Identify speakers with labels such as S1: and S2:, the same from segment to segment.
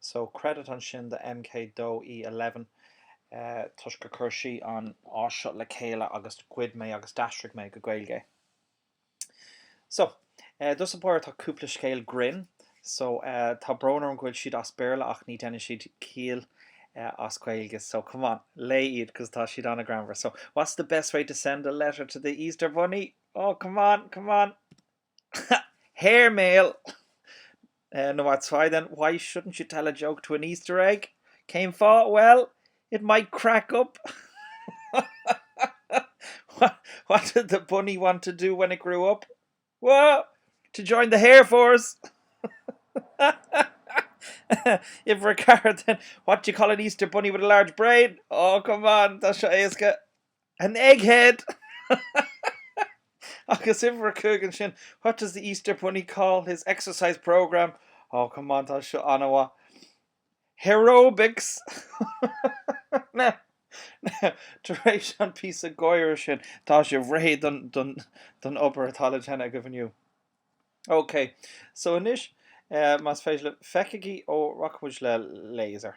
S1: so credit ansin do MK Doe E11 toisc gur chuir sí an áis seo le chéile agus ghoid mé agus d'aistrigh mé go Gaeilge é. So, dos a bharr tá cúpla scéal grinn, so tá brón orm go bhfuil siad as Béarla ach ní deineann siad ciall as Gaeilge so come on, léigh iad cos tá siad an-greannmhar. So, what's the best way to send a letter to the Easter Bunny? Oh, come on, come on! Hair mail No that's why then why shouldn't you tell a joke to an Easter egg? Cén fáth? Well, it might crack up What did the bunny want to do when it grew up? Well, to join the hair force If we're car then what do you call an Easter bunny with a large brain? Oh come on, tá seo éasca. An egghead! Agus uimhir a cúig ansin, what does the Easter Bunny call his exercise programme? Oh, come on, tá seo an-mhaith. Hareobics! Now, now, tar éis an píosa gáire sin, tá sibh réidh don, don, don obair atá le déanamh agaibh inniu. OK, so anois, eh, más féidir libh, feicigí, ó, rachaidh muid le laser.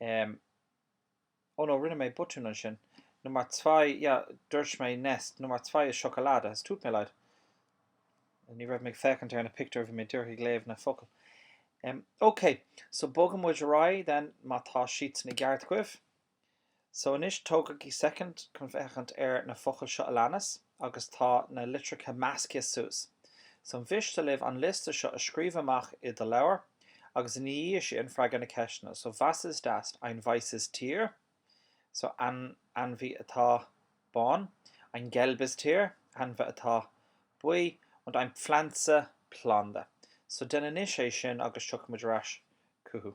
S1: Em Oh no, rinne mé botún ansin. Nummer zwei, yeah, dúirt mé nest, Nummer zwei ist Schokolade, es tut mir leid. Ní raibh mé ag féachaint ar na pictiúir, bhí mé díreach ag léamh na focail. Em, Ok, so bogfaidh muid ar aghaidh then, má tá siadsan i gceart agaibh. So anois tógaigí soicind chun féachaint ar na focail seo a leanas agus tá na litreacha measctha suas. So mhiste libh an liosta seo a scríobh amach i do leabhar agus ina dhiaidh sin freagair na ceisteanna. So was ist das? Ein weißes Tier. So ainmhí atá bán. Ein gelbes Tier. Ainmhí atá buí. Und ein Pflanze, planda. So déan anois é sin agus tiocfaidh muid ar ais chucu.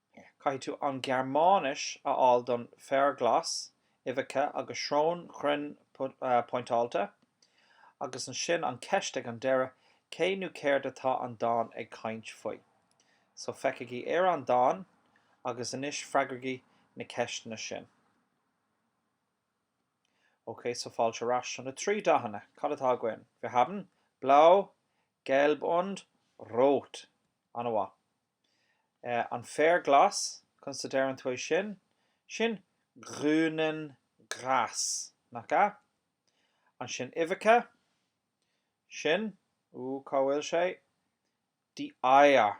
S1: Caithfidh tú an Ghearmáinis a fháil don féar glas, uibheacha agus srón chruinn pointeáilte, agus ansin an cheist ag an deireadh, cé nó céard atá an dán ag caint faoi? So feicigí ar an dán agus anois freagraigí na ceisteanna sin. Ok, so fáilte ar ais. So na trí dathanna, cad atá againn? Wir haben, blau, gelb und rot. An-mhaith. An féar glas, conas a deireann tú é sin? Sin grünen Gras, nach ea? Ansin uibheacha, sin, ó cá bhfuil sé? die Eier.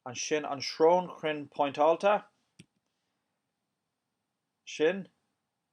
S1: Ansin an srón chruinn pointeáilte, sin,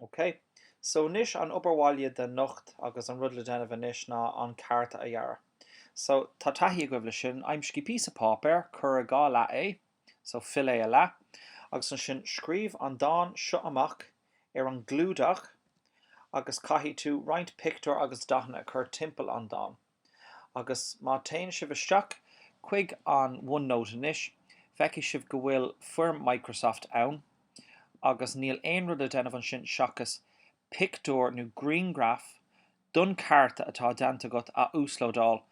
S1: OK. So anois an obair bhaile do anocht agus an rud le déanamh anois ná an cárta a dhearadh. So, tá taithí agaibh leis sin. Aimsígí píosa páipéir, cuir i dhá leath é, so fill é a leath, agus ansin scríobh an dán seo amach ar an gclúdach agus caithfidh tú roinnt pictiúr agus dathanna a chur timpeall an dán. Agus má téann sibh isteach chuig an OneNote anois, feicfidh sibh go bhfuil foirm Microsoft ann, agus níl aon rud le déanamh ansin seachas pictiúr nó grianghraf den chárta atá déanta agat a uaslódáil,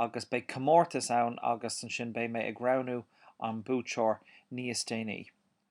S1: agus beidh comórtas ann agus ansin beidh mé ag roghnú an buaiteoir níos déanaí.